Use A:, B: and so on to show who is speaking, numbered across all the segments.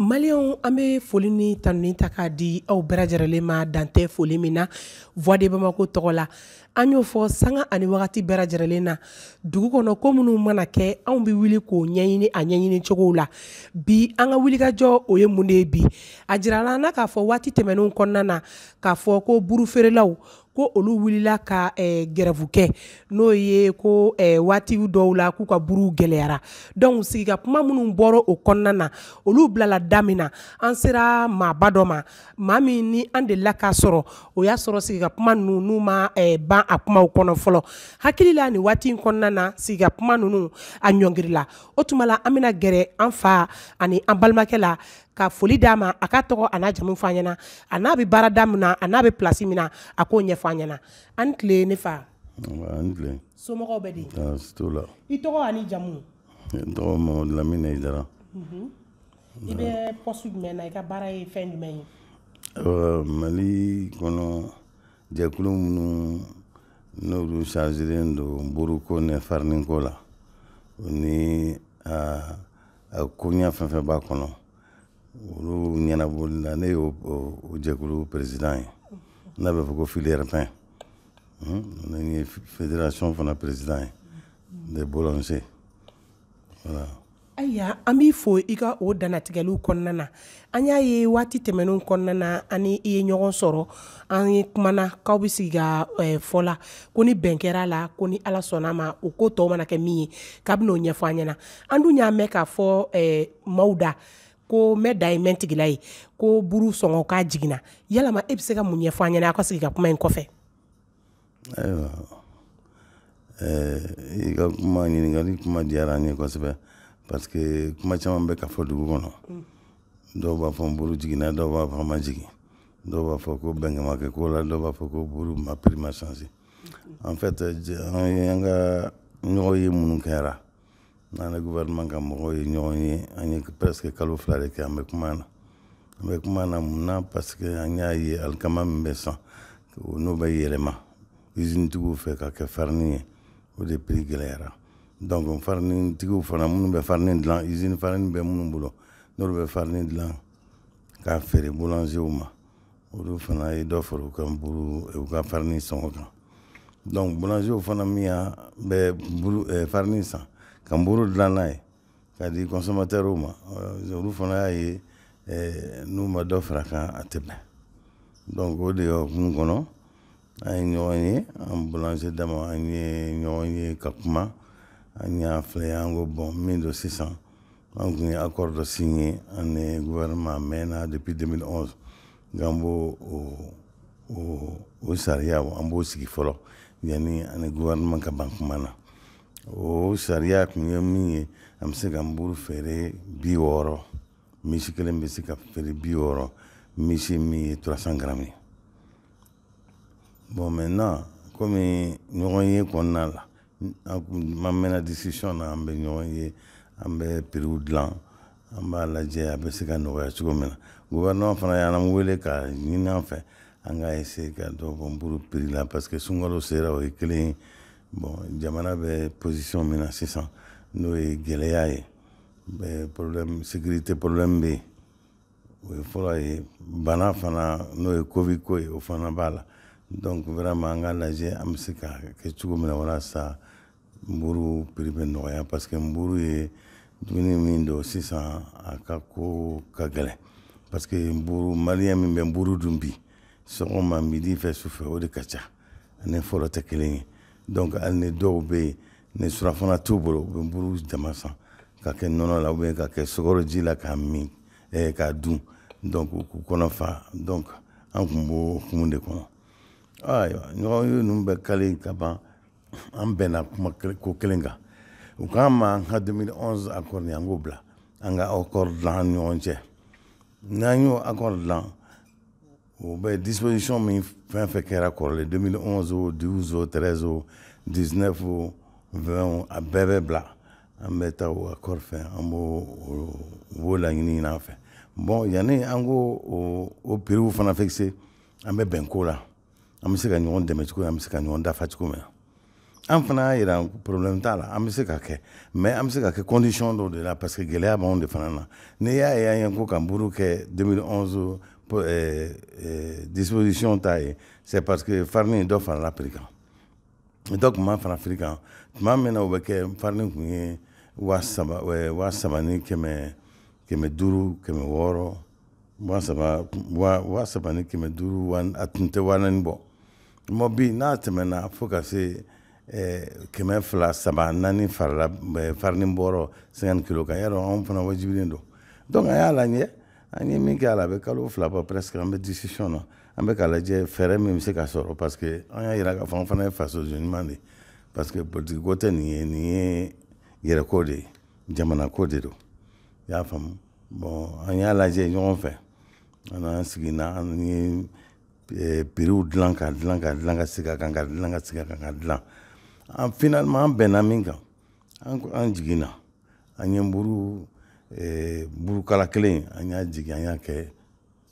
A: Maliens an bɛ foli ni tanuni ta k'a di aw bɛɛ lajɛlen ma dan tɛ foli min na voix de bamako tɔgɔ la an y'o fɔ sanga ani wagati bɛɛ lajɛlen na dugu kɔnɔ ko minnu mana kɛ anw bɛ wuli k'o ɲɛɲini a ɲɛɲini cogo la bi an ka wulikajɔ o ye mun de ye bi a jirala an na k'a fɔ waati tɛmɛnenw kɔnɔna na k'a fɔ ko buru feerelaw ko olu wulila ka gɛrɛfu kɛ n'o ye ko waati dɔw la k'u ka buruw gɛlɛyara donc sigika kuma minnu bɔra o kɔnɔna na olu bilala da min na an sera maaba dɔ ma maa min ni an delila k'a sɔrɔ o y'a sɔrɔ sigika kuma ninnu n'u ma eh, ban a kumaw kɔnɔ fɔlɔ hakili la nin waati in kɔnɔna na sigika kuma ninnu a ɲɔngirila o tuma la an bɛna gɛrɛ an fa ani an balimakɛ la ka foli d'a ma a ka tɔgɔ a n'a jamu fɔ an ɲɛna a n'a bɛ baarada min na a n'a bɛ pilasi min na a k'o ɲɛfɔ an ɲɛna a' ni tile ne fa somɔgɔw bɛ di i tɔgɔ an'i jamu n tɔgɔ mamadu lamine hayidara mhm. i bɛ pɔsi jumɛn na i ka baara ye fɛn jumɛn ye mali kɔnɔ jɛkulu minnu n'olu chargélen don buruko ni fariniko la o n'a koɲa fɛn fɛn b'a kɔnɔ olu ɲɛnaboli la ne y'o jɛkulu président ye n'a bɛ fɔ ko filière pain n ye fédération fana président ye des boulangers Ayiwa an b'i fo i ka o dantigɛli kɔnɔna na an y'a ye waati tɛmɛnenw kɔnɔna na an n'i ye ɲɔgɔn sɔrɔ an kuma aw bɛ sigi ka fɔ la ko ni bɛn kɛra a la ko ni ala sɔnna a ma o ko tɔw mana kɛ min ye k'aw b'o ɲɛfɔ an ɲɛna an dun y'a mɛn k'a fɔ maaw da ko mɛ da ye mɛntigila ye ko sɔngɔ ko jiginna yala e bɛ se ka mun ɲɛfɔ an ɲɛna aw ka sigi ka kuma in kɔfɛ ayiwa i ka kuma ɲininkali kuma diyara an ye kosɛbɛ parce que kuma caman bɛ ka fɔ dugu kɔnɔ dɔw b'a fɔ nburu jiginna dɔw b'a fɔ k'a ma jigin dɔw b'a fɔ ko bɛn ma kɛ ko la dɔw b'a fɔ ko buru ma prix ma changé en fait an ka ɲɔgɔn ye minnu kɛra n'an ni gouvernement ka mɔgɔw ye ɲɔgɔn ye an ye presque kalo fila de kɛ an bɛ kuma na an bɛ kuma na mun na parce que an y'a ye alikama min bɛ san n'o bɛ yɛlɛma usine tigiw fɛ ka kɛ farini ye o de prix gɛlɛyara donc farini tigiw fana minnu bɛ farini dilan usine farini bɛ minnu bolo n'olu bɛ farini dilan k'a feere boulangerw ma olu fana ye dɔ fara u ka buru u ka farini sɔngɔ kan donc boulanger fana min y'a bɛ buru eh, farini san ka buru dilan n'a ye k'a di consommateur ma euh, olu fana y'a ye eh, n'u ma dɔ far'a kan a tɛ bɛn donc o de hukumu kɔnɔ an ye ɲɔgɔn ye an boulanger dama an ye ɲɔgɔn ye ka kuma an y'a filɛ an ko bon min don sisan an tun ye accord dɔ signé an ni gouvernement mɛnna depuis 2011 nka b'o o o sariya an b'o sigi fɔlɔ yanni an ni gouvernement ka ban kuma na o sariya tun ye min ye an bɛ se ka nburu feere bi wɔɔrɔ miche kelen bɛ se ka feere bi wɔɔrɔ miche min ye 300 grammes ye bon maintenant komi ɲɔgɔnye kɔnɔna la ma mɛnna discussion na an bɛ ɲɔgɔn ye an bɛ prixw dilan an b'a lajɛ a bɛ se ka nɔgɔya cogo min na gouvernement fana y'an wele k'a ɲini an fɛ an ka essayer ka dɔ bɔ nburu prix la parce que sunkalo sera o ye kelen ye bon jamana bɛ position min na sisan n'o ye gɛlɛya ye problème sécurité problème bɛ yen o ye fɔlɔ ye bana fana n'o ye covid ko ye o fana b'a la donc vraiment an k'a lajɛ an bɛ se k'a kɛ cogo min na walasa nburu prix bɛ nɔgɔya parce que nburu ye dumuni min don sisan a ka ko ka gɛlɛn parce que nburu malien min bɛ nburu dun bi sɔgɔma midi fɛ sufɛ o de ka ca a ni fɔlɔ tɛ kelen ye donc hali ni dɔw bɛ yen ni surɔfana t'u bolo u bɛ buru jama san k'a kɛ nɔnɔ la ou bien k'a kɛ sukaroji la k'a min eh, k'a dun donc k'u kɔnɔ fa donc an tun b'o hukumu de kɔnɔ ayiwa ɲɔgɔn ye ninnu bɛɛ kɛlen ka ban an bɛnna kuma ko kelen kan u k'an ma an ka 2011 accord an k'o bila an ka accord dilan an ni ɲɔgɔn cɛ n'an y'o accord dilan o bɛɛ disposition min fɛn fɛn kɛra kɔrɔlen 2011 o 12 o 13 o 19 o 20 o a bɛɛ bɛ bila an bɛ taa o accord fɛ an b'o b'o laɲini ɲini an fɛ bon yanni an k'o o o prix fana fixer an bɛ bɛn ko la an bɛ se ka ɲɔgɔn dɛmɛ cogo min an bɛ se ka ɲɔgɔn dafa cogo min na an fana y'a jira problème t'a la an bɛ se k'a kɛ mais an bɛ se k'a kɛ condition dɔw de la parce que gɛlɛya b'anw de fana na n'i y'a ye an ye ko ka nburu kɛ 2011 euh, euh, disposition ta ye c'est parce que farine dɔ farala prix kan dɔ tun ma fara prix kan tuma min na o bɛ kɛ farine tun ye waa saba euh, waa saba ni kɛmɛ kɛmɛ duuru kɛmɛ wɔɔrɔ waa saba waa waa saba ni kɛmɛ duuru wa a tun tɛ waa naani bɔ mɛ bi n'a tɛmɛna fo ka se eh, kɛmɛ fila saba naani farala eh, farini bɔrɔ cinquante kilo kan y'a dɔn anw fana wajibilen don donc an y'a lajɛ an ye min kɛ a la a bɛ kalo fila bɔ presque an bɛ discussion na an bɛ k'a lajɛ fɛɛrɛ min bɛ se ka sɔrɔ parce que an y'a yira k'a fɔ an fana ye faso ɲuman de ye parce que politiki ko tɛ nin ye nin ye yɛrɛko de ye jamanako de don i y'a faamu bɔn an y'a lajɛ ɲɔgɔn fɛ an an sigina an ye piriw dilan ka dilan ka dilan ka sigi a kan ka dilan ka sigi a kan ka dilan an finalement an bɛnna min kan an an jiginna an ye buru eh, burukala kelen an y'a jigin an y'a kɛ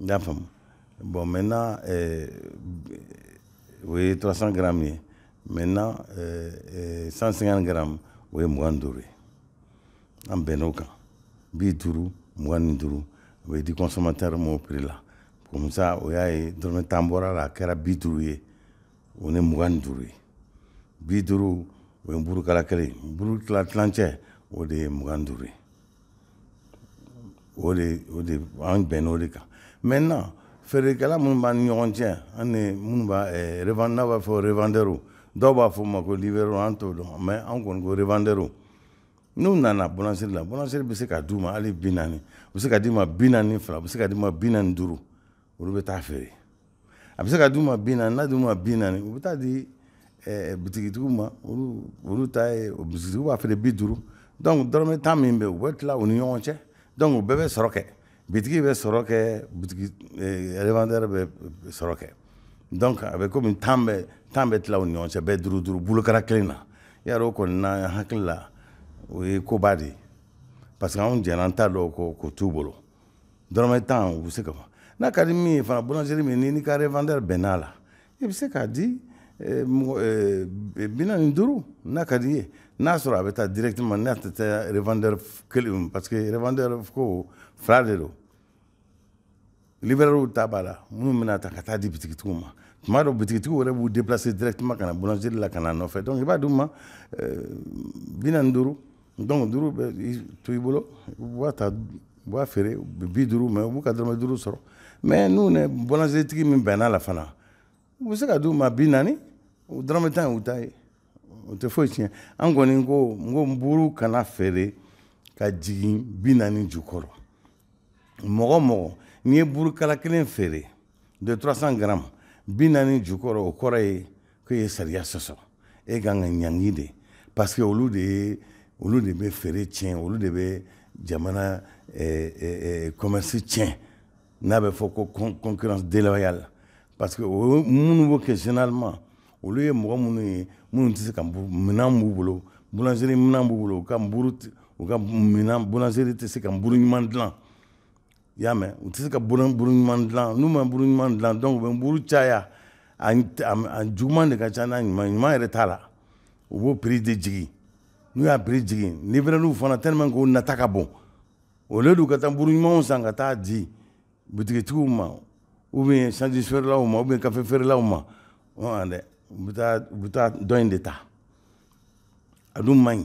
A: n y'a faamu bon maintenant euh, o ye 300 grammes ye maintenant euh, euh, 150 grammes o ye mugan ni duuru ye an bɛnn'o kan bi duuru mugan ni duuru o bɛ di consommateur ma o prix la comme ça o y'a ye dɔrɔmɛ tan bɔr'a la a kɛra bi duuru ye o ni mugan ni duuru ye bi duuru o ye burukala kelen buru tila tilancɛ o de ye mugan ni duuru ye o de o de an bɛnn'o de kan maintenant feerekɛla minnu b'an ni ɲɔgɔn cɛ ani minnu b'a eh, n'a b'a fɔ revendeurs dɔw b'a f'u ma ko livreurs an t'o dɔn mɛ an kɔni ko revendeurs n'u nana boulangerie la boulangerie bɛ se ka d'u ma hali bi naani u bɛ se ka d'i ma bi naani fila u bɛ se ka d'i ma bi naani duuru olu bɛ taa feere a bɛ se ka d'u ma bi naani n'a d'u ma bi naani u bɛ taa di eh, bitigitigiw ma olu olu ta ye bitigitigiw b'a feere bi duuru donc dɔrɔmɛ tan min bɛ u bɛ tila u ni ɲɔgɔn cɛ donc u bɛɛ bɛ sɔrɔ kɛ bitigi bɛ sɔrɔ kɛ bitigi eh, revendeur bɛ sɔrɔ kɛ donc a bɛ komi tan bɛ tan bɛ tila u ni ɲɔgɔn cɛ bɛɛ duuru duuru burukala kelen na y'a dɔn o kɔni ne hakili la o ye koba de ye parce que anw jɛnna tan dɔ kɔ k'o t'u bolo dɔrɔmɛ tan u bɛ se ka fɔ n'a ka di min ye fana boulangerie min n'i ka revendeur bɛnn'a la i bɛ se k'a di eh, mɔgɔ eh, bi naani ni duuru n'a ka d'i ye n'a sɔrɔ a bɛ taa directement n'a tɛ taa revendeur kelen parce que revendeur ko fila de don livreurs ta b'a la minnu bɛ n'a ta ka t'a di bitigitigiw ma tuma dɔ bitigitigiw yɛrɛ b'u déplacer directement ka na boulangerie la ka n'a nɔfɛ donc i b'a d'u ma eh, bi naani duuru donc duuru bɛ to i bolo u b'a ta u b'a feere bi duuru mɛ u b'u ka dɔrɔmɛ duuru sɔrɔ mɛ n'u ni boulangerietigi min bɛnn'a la fana u bɛ se ka di u ma bi naani u dɔrɔmɛ tan u ta ye o tɛ foyi tiɲɛ an kɔni ko n ko buru kana feere ka jigin bi naani jukɔrɔ mɔgɔ o mɔgɔ n'i ye burukala kelen feere de 300 grammes bi naani jukɔrɔ o kɔrɔ ye k'e ye sariya sɔsɔ e kan ka ɲangi de parce que olu de ye olu de bɛ feere tiɲɛ olu de bɛ jamana eh, eh, eh, commerce tiɲɛ n'a bɛ fɔ ko concurrence déloyale parce que minnu b'o kɛ généralement olu ye mɔgɔ minnu ye minnu tɛ se ka minɛn b'u bolo boulangerie minɛn b'u bolo u ka u ka minɛn boulangerie tɛ se ka buru ɲuman dilan i y'a mɛn u tɛ se ka buru ɲuman dilan n'u ma buru ɲuman dilan donc u bɛ buru caya juguman de ka ca n'a ɲuman ɲuman yɛrɛ t'a la u b'o prix de jigin n'u y'a prix jigin livreurw fana te min k'u nata ka bon o de don u ka taa buru ɲumanw san ka taa di butigitigiw ma ou bien sandwich feerelaw ma ou bien kafe feerelaw ma dɛ u bɛ taa dɔ in de ta a dun man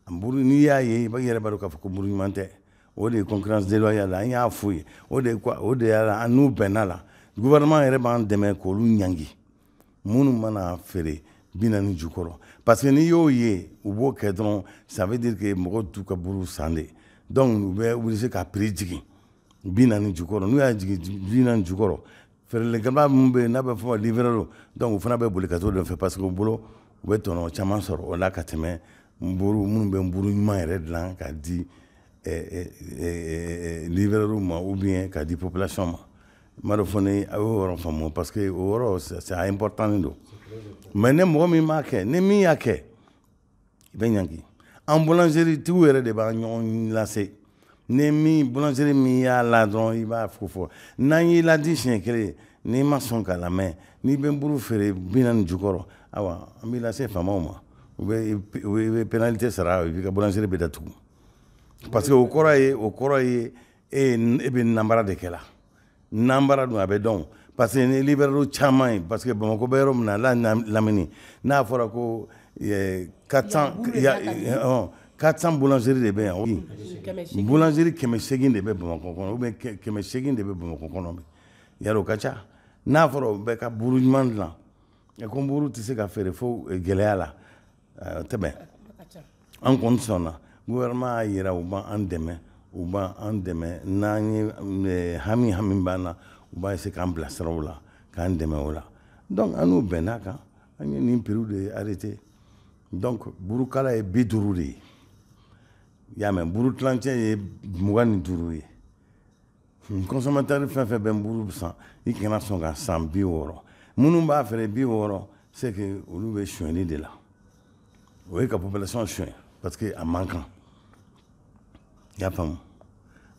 A: ɲi n'i y'a ye i bɛ yɛrɛ b'a k'a fɔ ko buru ɲuman tɛ o de ye concurrence déloyale an y'a fɔ ye o de o de y'a la an n'u bɛnna la gouvernement yɛrɛ b'an dɛmɛ k'olu ɲangi minnu mana feere bi naani jukɔrɔ parce que n'i y'o ye u b'o kɛ dɔrɔn ça veut dire que mɔgɔ t'u ka buru san de donc u bɛ obligé k'a prix jigin bi naani jukɔrɔ n'u y'a jigin bi naani jukɔrɔ feerelikɛla minnu bɛ yen n'a bɛ fɔ livreurw donc u fana bɛ boli ka t'o de fɛ parce que u bolo u bɛ tɔnɔ caman sɔrɔ o la ka tɛmɛ nburu minnu bɛ nburu ɲuman yɛrɛ dilan ka di livreurw ma ou bien ka di population ma n t'a dɔn fɔ ni a y'o yɔrɔ faamu parce que o yɔrɔ c'est important don mais ni mɔgɔ min m'a kɛ ni min y'a kɛ i bɛ ɲangi an boulangerie-tigiw yɛrɛ de b'a ɲɔgɔn lase ni min boulangerie min y'a la dɔrɔn i b'a fo fɔ n'an y'i ladi siɲɛ kelen n'i ma sɔn k'a lamɛn n'i bɛ buru feere bi naani jukɔrɔ awa an b'i lase faamaw ma u bɛ i bɛ pénalité sara i ka boulangerie bɛ datugu parce que o kɔrɔ ye o kɔrɔ ye e e bɛ nanbara de kɛla nanbara dun a bɛ dɔn parce que ni livreur caman ye parce que bamakɔ bɛ yɔrɔ min na n'a lamini n'a fɔra ko 400 400 boulangerie de bɛ yan boulangerie kɛmɛ seegin de bɛ bamakɔ kɔnɔ ou bien kɛmɛ seegin de bɛ bamakɔ kɔnɔ bi yɛrɛ o ka ca n'a fɔra o bɛɛ ka buuru ɲuman dilan ko buuru tɛ se ka feere fo gɛlɛya la tɛmɛ an kɔni sɔnna gouvernement y'a yira u b'an an dɛmɛ u b'an an dɛmɛ n'an ye eh, hami hami b'an na u b'a essayer k'an bilasira o la k'an dɛmɛ o la donc an n'u bɛnn'a kan an ye nin prix de arrêté donc burukala ye bi duuru de ye i y'a mɛn buru tilancɛ ye mugan ni duuru ye consommateur fɛn fɛn bɛ nburu san i kana sɔn k'a san bi wɔɔrɔ minnu b'a feere bi wɔɔrɔ c'est que olu bɛ sonyɛli de la o ye ka population sonyɛ parce que a man kan i y'a faamu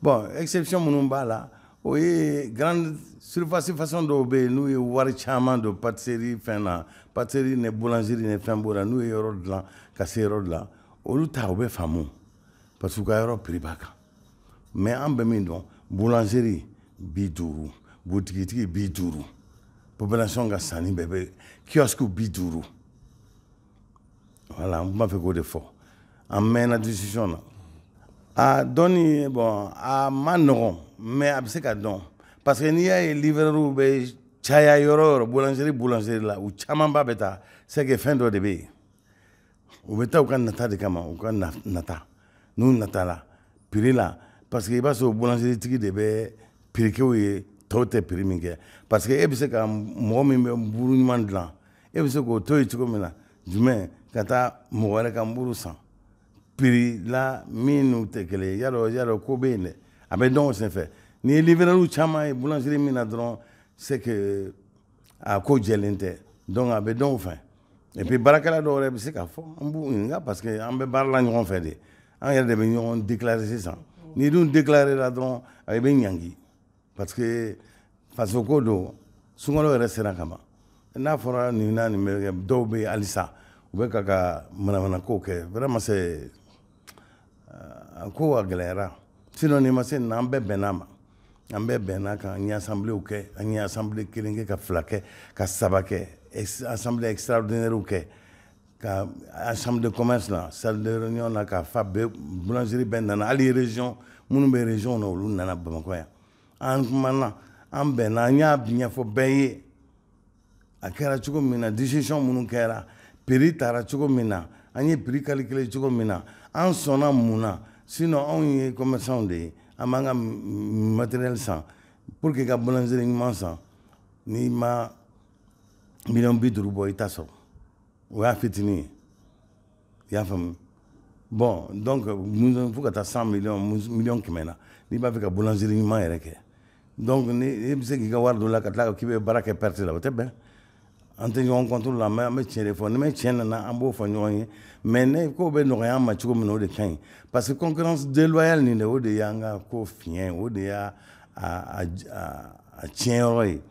A: bon exception minnu b'a la o ye grande surface façon dɔw bɛ yen n'u ye wari caman don patisserie fɛn na patisserie ni boulangerie ni fɛn b'o la n'u ye yɔrɔ dilan ka se yɔrɔ dilan olu ta u bɛ faamu parce que u ka yɔrɔ prix b'a kan mais an bɛ min dɔn boulangerie bi duuru butigitigi bi duuru population ka sanni bɛɛ bɛ kiosque bi duuru voilà n tun b'a fɛ k'o de fɔ an mɛnna discussion na a dɔnni bon a man nɔgɔn mais a bɛ se ka dɔn parce que n'i y'a ye livreurw bɛ caya yɔrɔ yɔrɔ boulangerie boulangerie la u camanba bɛ taa c'est que fɛn dɔ de bɛ yen u bɛ taa u ka nata de kama u ka nata n'u nata la piri la parce que i b'a sɔrɔ boulangerietigi de bɛ piri k'u ye tɔw tɛ piri min kɛ parce que e bɛ se ka mɔgɔ min bɛ buru ɲuman dilan e bɛ se k'o to yen cogo min na jumɛn ka taa mɔgɔ wɛrɛ ka buru san piri la min n'u tɛ kelen ye yadɔ yadɔ ko bɛ yen dɛ a bɛ dɔn o senfɛ n'i ye livreurw caman ye boulangerie min na dɔrɔn c'est que a ko jɛlen tɛ donc a bɛ dɔn o fɛ et puis baarakɛla dɔw yɛrɛ bɛ se k'a fɔ an b'u ɲininka parce que an bɛ baara la ɲɔgɔn fɛ de an yɛrɛ de bɛ ɲɔgɔn déclarer sisan n'i dun déclarer la dɔrɔn a bɛ ɲangi parce que faso ko don sunkalo yɛrɛ sera ka ban n'a fɔra nin na nin bɛ kɛ dɔw bɛ yen halisa u bɛ ka ka manamanakow kɛ vraiment c'est a ko a gɛlɛyara sinon nin ma se nin na an bɛɛ bɛnna a ma an bɛɛ bɛnna a kan an ye assembléew kɛ an ye assemblée kelen kɛ ka fila kɛ ka saba kɛ assemblée extraordinairew kɛ ka chambre de commerce la salle de réunion la k'a fa bɛɛ boulangerie bɛɛ nana hali région minnu bɛ région na olu nana bamakɔ yan an kumana an bɛnna an y'a ɲɛfɔ bɛɛ ye a kɛra cogo min na décision minnu kɛra piri tara cogo min na an ye piri calculer cogo min na an sɔnna mun na sinon anw ye commerçantw de ye an b'an ka matériel san pour que e ka boulangerie ɲuman san n'i ma miliyɔn bi duuru bɔ i t'a sɔrɔ o y'a fitinin ye i y'a faamu bon donc fo ka taa cent million million kɛmɛ na n'i b'a fɛ ka boulangerie ɲuman yɛrɛ kɛ donc ni e bɛ se k'i ka wari don a la ka tila k'i bɛ baara kɛ perte la o tɛ bɛn an tɛ ɲɔgɔn contre la mais an bɛ tiɲɛ de fɔ ni mɛ tiɲɛ nana an b'o fɔ ɲɔgɔn ye mais nin ko bɛ nɔgɔya an ma cogo min na o de ka ɲi parce que concurrence déloyale nin de o de y'an ka ko fiɲɛ o de y'a tiɲɛ yɔrɔ ye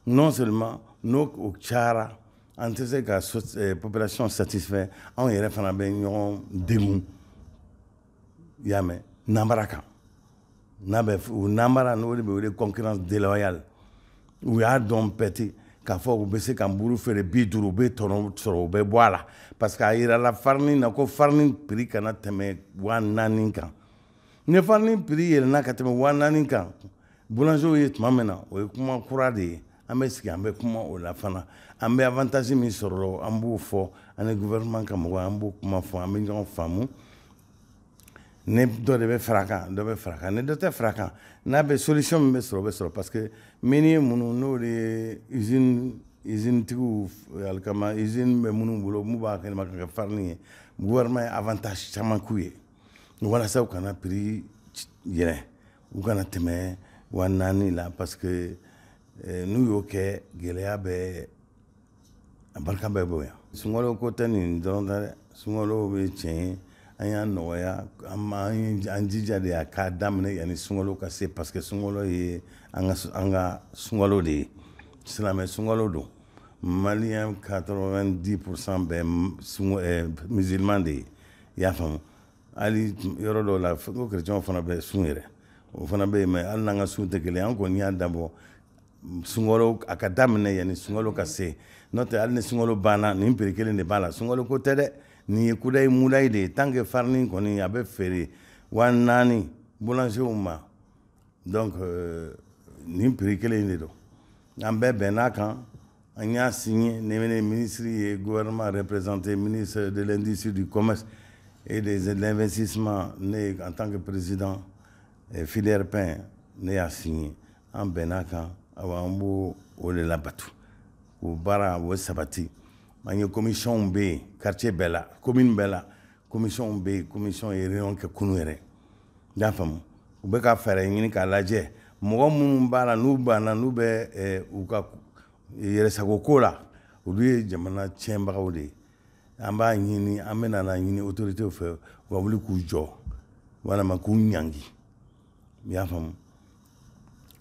A: non seulement n'o o cayara an tɛ se ka eh, population satisfait anw yɛrɛ fana bɛ ɲɔgɔn degun i y'a mɛn nanbara kan n'a bɛ o nanbara n'o de bɛ wele concurrence déloyale u y'a dɔn pɛti k'a fɔ u bɛ se ka buru feere bi duuru u bɛ tɔnɔ sɔrɔ u bɛ bɔ a la parce que a yirala farini na ko farini prix kana tɛmɛ waa naani kan ni farini prix yɛlɛnna ka tɛmɛ waa naani kan boulangerw ye tuma min na o ye kuma kura de ye an bɛ sigi an bɛ kuma o la fana an bɛ avantage min sɔrɔ an b'o fɔ ani gouvernement ka mɔgɔw an b'o kuma fɔ an bɛ ɲɔgɔn faamu ni dɔ de bɛ fara kan dɔ bɛ fara kan ni dɔ tɛ fara kan n'a bɛ solution min bɛ sɔrɔ bɛ sɔrɔ parce que min ye minnu n'o de ye izinitigiw alikama izini bɛ minnu bolo n'u b'alikama kɛ farini ye buwa ye avantage caman ye walasa u kana prix yɛlɛn u kana tɛmɛ wa naani la parce que eh, n'u y'o kɛ gɛlɛya bɛ a barika bɛ bonya sunkalo ko tɛ nin dɔrɔn ta dɛ sunkalo bɛ tiɲɛ ye an y'a nɔgɔya an jija de a ka daminɛ yanni sunkalo ka se parce que sunkalo ye an ka sunkalo de ye silamɛ sunkalo don maliyɛn 90 pourcent bɛ eh, musulman de ye i y'a faamu hali yɔrɔ dɔw la ko kerecɛnw fana bɛ sun yɛrɛ o fana bɛ yen mɛ hali n'an ka sun tɛ kelen an kɔni y'a dabɔ sunkalo a ka daminɛ yanni sunkalo ka se n'o tɛ hali ni sunkalo banna nin prix kelen de b'a la sunkalo ko tɛ dɛ nin ye kudayi mudayi de ye tant que farini kɔni a bɛ feere wa naani boulangerw ma donc euh, nin prix kelen in de don an bɛɛ bɛnn'a kan an y'a signé ne bɛ ne minisiri ye gouvernement représenté ministre de l'industrie du commerce et des investissements ne en tant que président eh, filière pain ne y'a signé an bɛnn'a kan awa an b'o o de labato o baara o sabati an ye commissionw bɛ yen quartier bɛɛ la commune bɛɛ la commissionw bɛ yen commission ye réunion kɛ kunu yɛrɛ i y'a faamu u bɛ ka fɛɛrɛ ɲini k'a lajɛ mɔgɔ minnu b'a la n'u banna n'u bɛ eh, u ka yɛrɛsago ko la olu ye jamana tiɲɛbagaw de ye an b'a ɲini an bɛna a ɲini autoritew fɛ u ka wuli k'u jɔ walama k'u ɲangi i y'a faamu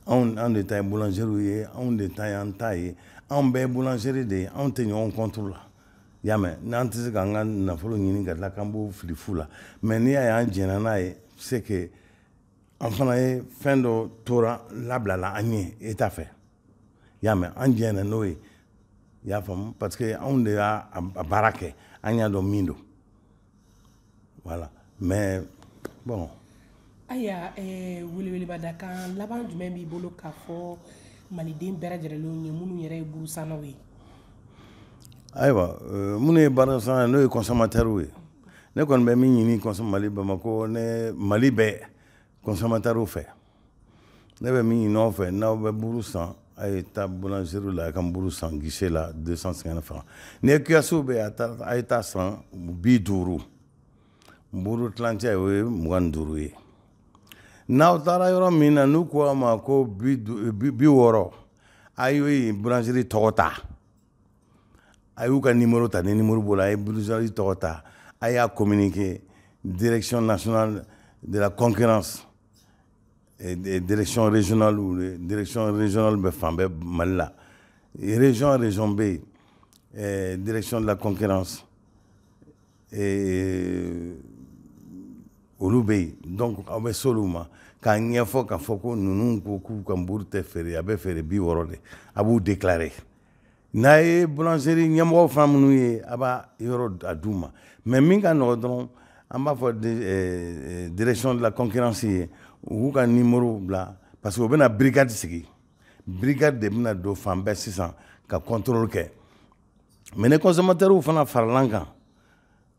A: anw anw de ta ye boulangerie ye anw de ta ye an ta ye anw bɛɛ boulangerie de ye anw tɛ ɲɔgɔn contre la y'a mɛn an tɛ se k'an ka nafolo ɲini ka tila k'an b'o fili fu la mɛ n'i y'a ye an jɛnna n'a ye c'est que an fana ye fɛn dɔ tora labilala an ye État fɛ y'a mɛn an jɛnna n'o ye y'a faamu parce que anw de y'a baara kɛ an y'a dɔn min don Voilà mais bon ayiwa weleweleda kan laban jumɛn b'i bolo k'a fɔ maliden bɛɛ lajɛlen ye minnu yɛrɛ ye burusannaw ye ayiwa minnu ye burusanna n'o ye consommateurs ye ne kɔni bɛ min ɲini mali bamakɔ ni mali bɛɛ consommateurs fɛ ne bɛ min ɲini aw fɛ n'aw bɛ buru san a ye taa boulangerie la a ka buru san guichet la 250 francs ni ye kiosque bɛ a taa a ye t'a san bi duuru buru tilancɛ o ye mugan ni duuru ye n'aw taara yɔrɔ min na n'u ko a ma ko bi bi wɔɔrɔ a ye boulangerie tɔgɔ ta a y'u ka numéro ta ni numéro b'o la a ye boulangerie tɔgɔ ta a y'a communiquer direction nationale de la concurrence direction régionale ou direction régionale bɛ fan bɛɛ mali la région région bɛ yen direction de la concurrence olu bɛ yen donc aw bɛ s'olu ma k'a ɲɛfɔ k'a fɔ ko ninnu ko k'u ka nburu tɛ feere a bɛ feere bi wɔɔrɔ de a b'u déclarer n'a ye boulangerie ɲɛmɔgɔ fana minnu ye a b'a yɔrɔ a d'u ma mais min ka nɔgɔ dɔrɔn an b'a fɔ eh, eh, direction de la concurrence ye u k'u ka numéro bila parce que u bɛna brigade sigi brigade de bɛna don fan bɛɛ sisan ka contrôle kɛ mais ni consommateurs fana farala an kan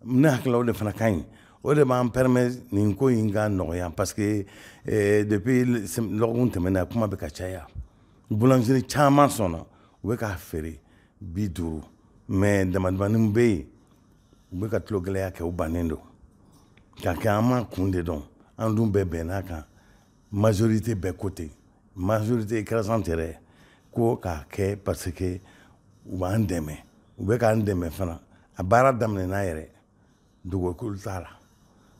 A: ne hakilila o de fana ka ɲi o de b'an permet nin ko in ka nɔgɔya parce que eh, depuis lɔgɔkun tɛmɛna kuma bɛ ka caya boulangerie caman sɔnna u bɛ k'a feere bi duuru mais damadamanin bɛ yen u bɛ ka tulo gɛlɛya kɛ u bannen don k'a kɛ an m'a kun de dɔn an dun bɛɛ bɛnn'a kan Majorité bɛɛ ko ten majorité écrasante yɛrɛ ko k'a kɛ parce que u b'an dɛmɛ u bɛ k'an dɛmɛ fana a baara daminɛna yɛrɛ dugukolo t'a la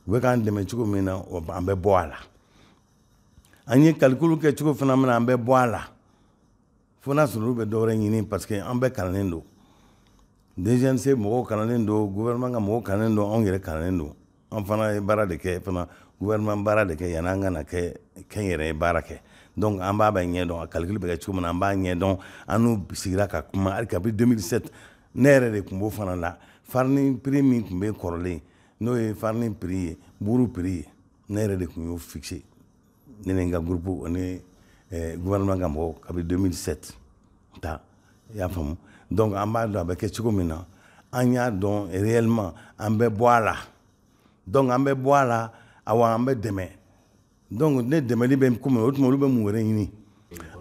A: u bɛ k'an dɛmɛ cogo min na an bɛ bɔ a la an ye kalikulu kɛ cogo fana min na an bɛ bɔ a la fo n'a sɔrɔ olu bɛ dɔwɛrɛ ɲini parce que an bɛɛ kalannen don dgc mɔgɔw kalannen don gouvernement ka mɔgɔw kalannen don anw yɛrɛ kalannen don an fana ye baara de kɛ fana gouvernement baara de kɛ yanni an ka na kɛ k'an yɛrɛ ye baara kɛ donc an b'a bɛɛ ɲɛ dɔn a calcul bɛ kɛ cogo min na an b'a ɲɛ dɔn an n'u sigira ka kuma hali kabi 2007 ne yɛrɛ de tun b'o fana la farini prix min tun bɛ kɔrɔlen n'o ye farini prix ye buuru prix ye ne yɛrɛ de tun y'o fixe ne ni n ka gurupu ani eh, gouvernement ka mɔgɔw kabini 2007 ta i y'a faamu donc an b'a dɔn a bɛ kɛ cogo min na an y'a dɔn réellement an bɛ bɔ a la donc an bɛ bɔ a la awa an bɛ dɛmɛ donc ni dɛmɛli bɛ ko min o tuma olu bɛ mun wɛrɛ ɲini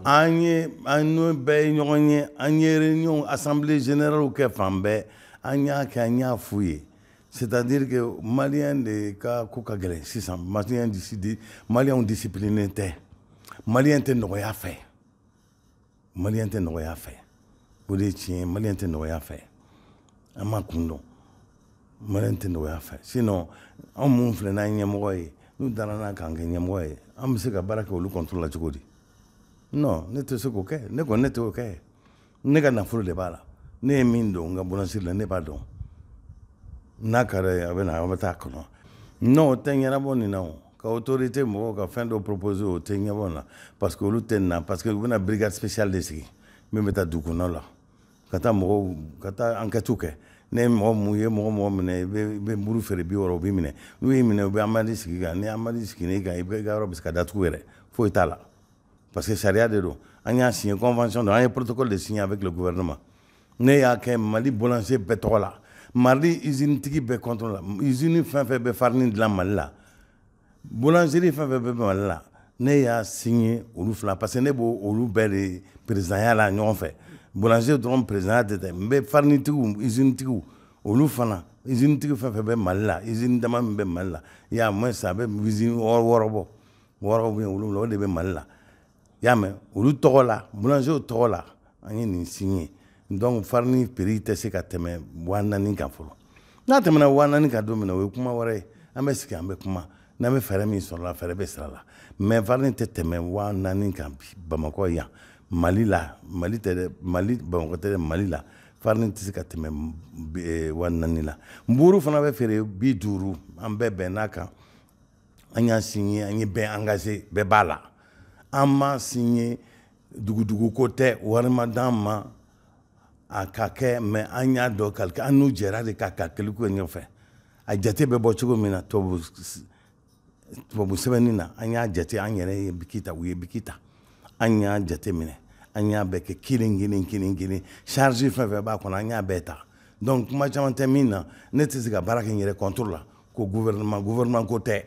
A: an ye an n'u bɛɛ ye ɲɔgɔn ye an ye réunion assemblée générale kɛ fan bɛɛ an y'a kɛ an y'a f'u ye c'est-à-dire malien de ka ko ka gɛlɛn sisan malien di malien discipliné tɛ malien tɛ nɔgɔya fɛ malien tɛ nɔgɔya fɛ o de tiɲɛ malien tɛ nɔgɔya fɛ an m'a kun dɔn malien tɛ nɔgɔya fɛ sinon anw minnu filɛ n'an ɲɛmɔgɔ ye n'u dala an na k'an kɛ ɲɛmɔgɔ ye an bɛ se ka baara kɛ olu contre la cogo di ne tɛ se k'o kɛ ne kɔni ne t'o kɛ ne ka nafolo de b'a la ne ye min don n ka boulangerie la ne b'a dɔn n'a ka ye a bɛ na a bɛ taa kɔnɔ non o tɛ ɲɛnabɔ nin na o ka autorité mɔgɔw ka fɛn dɔ proposer o tɛ ɲɛbɔ na parce que olu tɛ na parce que u bɛna brigade spéciale de sigi min bɛ taa dugukɔnɔ la ka taa mɔgɔw ka taa enquêtes kɛ n'u ye mɔgɔ min ye mɔgɔ mɔgɔ minɛ i bɛ buru feere bi wɔɔrɔ u b'i minɛ n'u y'i minɛ u bɛ amende sigi i kan ni amende sigilen i kan i bɛ i ka yɔrɔ bɛ se ka datugu yɛrɛ foyi t'a la parce que sariya de don an y'a signé convention don an ye protocole de signé avec le gouvernement ne y'a kɛ mali boulanger bɛɛ tɔgɔ la mali usine tigi bɛɛ tɔgɔ la usine fɛn fɛn bɛ farini dilan mali la boulangerie fɛn fɛn bɛ mali la ne y'a signé olu fila parce que ne bɛ olu bɛɛ de présidentya la ɲɔgɔn fɛ boulangerie dɔrɔn présidentya tɛ tɛ n bɛ farini tigiw usine tigiw olu fana usine tigi fɛn fɛn bɛ mali la usine dama min bɛ mali la au moins a bɛ usine wɔɔrɔ bɔ wɔɔrɔw bɛ yen wolonwula o de bɛ mali la i y'a mɛn olu tɔgɔ la boulanger tɔgɔ la an ye nin signé donc farini prix tɛ se ka tɛmɛ wa naani kan fɔlɔ n'a tɛmɛna wa naani kan don min na o ye kuma wɛrɛ ye an bɛ sigi an bɛ kuma n'an bɛ fɛɛrɛ min sɔrɔ a la fɛɛrɛ bɛ siri a la mais farini tɛ tɛmɛ wa naani kan bi bamakɔ yan mali la mali tɛ dɛ mali bamakɔ tɛ dɛ mali la farini tɛ se ka tɛmɛ eh, wa naani la nburu fana bɛ feere bi duuru an bɛɛ bɛnna a kan an y'a signé an ye bɛɛ engagé bɛɛ b'a la an m'a signé dugudugu ko tɛ wari ma d'an ma an k'a kɛ mais an y'a dɔn calcul an n'u jɛra de ka calcul kɛ ɲɔgɔn fɛ a jate bɛ bɔ cogo min na tubabu tubabu sɛbɛnni na an y'a jate an yɛrɛ ye biki ta u ye biki ta an y'a jate minɛ an y'a bɛɛ kɛ kelen kelen kelen kelen charge fɛn fɛn b'a kɔnɔ an y'a bɛɛ ta donc kuma caman tɛ min na ne tɛ se ka baara kɛ n yɛrɛ contre la ko gouvernement gouvernement ko tɛ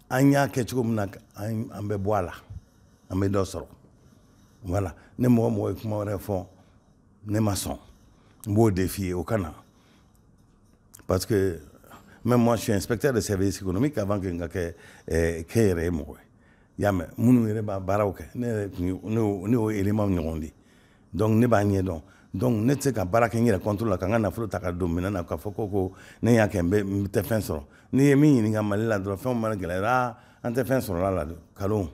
A: an y'a kɛ cogo min na an bɛ bɔ a la an bɛ dɔ sɔrɔ voilà ni mɔgɔ o mɔgɔ ye kuma wɛrɛ fɔ ne ma sɔn n b'o de f'i ye o ka na parce que même moi je suis inspecteur de service économique avant que n ka kɛ eh, kɛnyɛrɛye mɔgɔ ye i y'a mɛn minnu yɛrɛ b'a baaraw kɛ ne yɛrɛ tun ne y'o élément ɲɔgɔn de ye dɔnku ne b'a ɲɛ dɔn dɔnku ne tɛ se ka baara kɛ n yɛrɛ kɔntu la ka ka nafolo ta ka don minɛ na ka fɔ ko ko ne y'a kɛ n tɛ fɛn sɔrɔ n'i ye min ɲini ka mali la dɔrɔn fɛn mana gɛlɛyara an tɛ fɛn sɔrɔ a la don kalo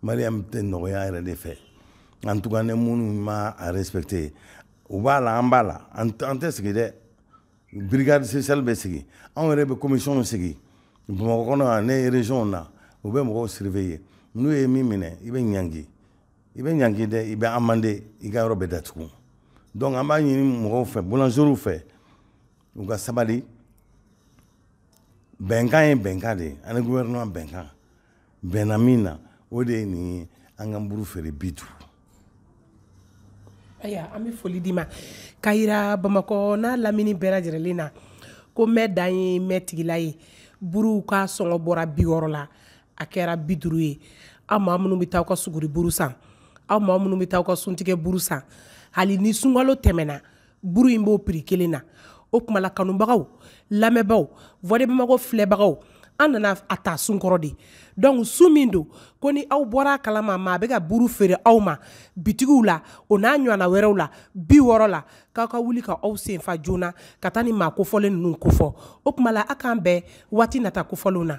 A: mali tɛ nɔgɔya yɛrɛ de fɛ an tun ne minnu ma apte u b'a la an b'a la an tɛ sigi dɛ brigade spéciale bɛ sigi anw yɛrɛ bɛ commission sigi bamakɔ kɔnɔ ni régionw na u bɛ mɔgɔw surveiller n'u ye min minɛ i bɛ ɲangi i bɛ ɲangi dɛ i bɛ amender i ka yɔrɔ bɛ datugu donc an b'a ɲini mɔgɔw fɛ boulangerw fɛ u ka sabali bɛnkan ye bɛnkan de ye an ni gouvernement bɛnkan bɛnna min na o de ye nin ye an ka buru feere bi duuru ayiwa an bɛ foli d'i ma ka yira bamakɔ n'a lamini bɛɛ lajɛlen na ko mɛn dan ye mɛn tigi la ye buruw ka sɔngɔ bɔra bi wɔɔrɔ la a kɛra bi duuru ye aw maa minnu bɛ taa aw ka suguri buru san aw maa minnu bɛ taa aw ka suntigɛ buru san hali ni sunkalo tɛmɛna buru in b'o prix kelen na o tuma la kanubagaw lamɛnbagaw voix de bamako filɛbagaw an nana a ta sun kɔrɔ de donc su min don ko ni aw bɔra a kalama maa bɛ ka buru feere aw ma bitigiw la o n'a ɲɔgɔnna wɛrɛw la bi wɔɔrɔ la k'aw ka wuli ka aw senfa joona ka taa ni maa kofɔlen ninnu kofɔ o tuma la a k'an bɛn waati nata kofɔlenw na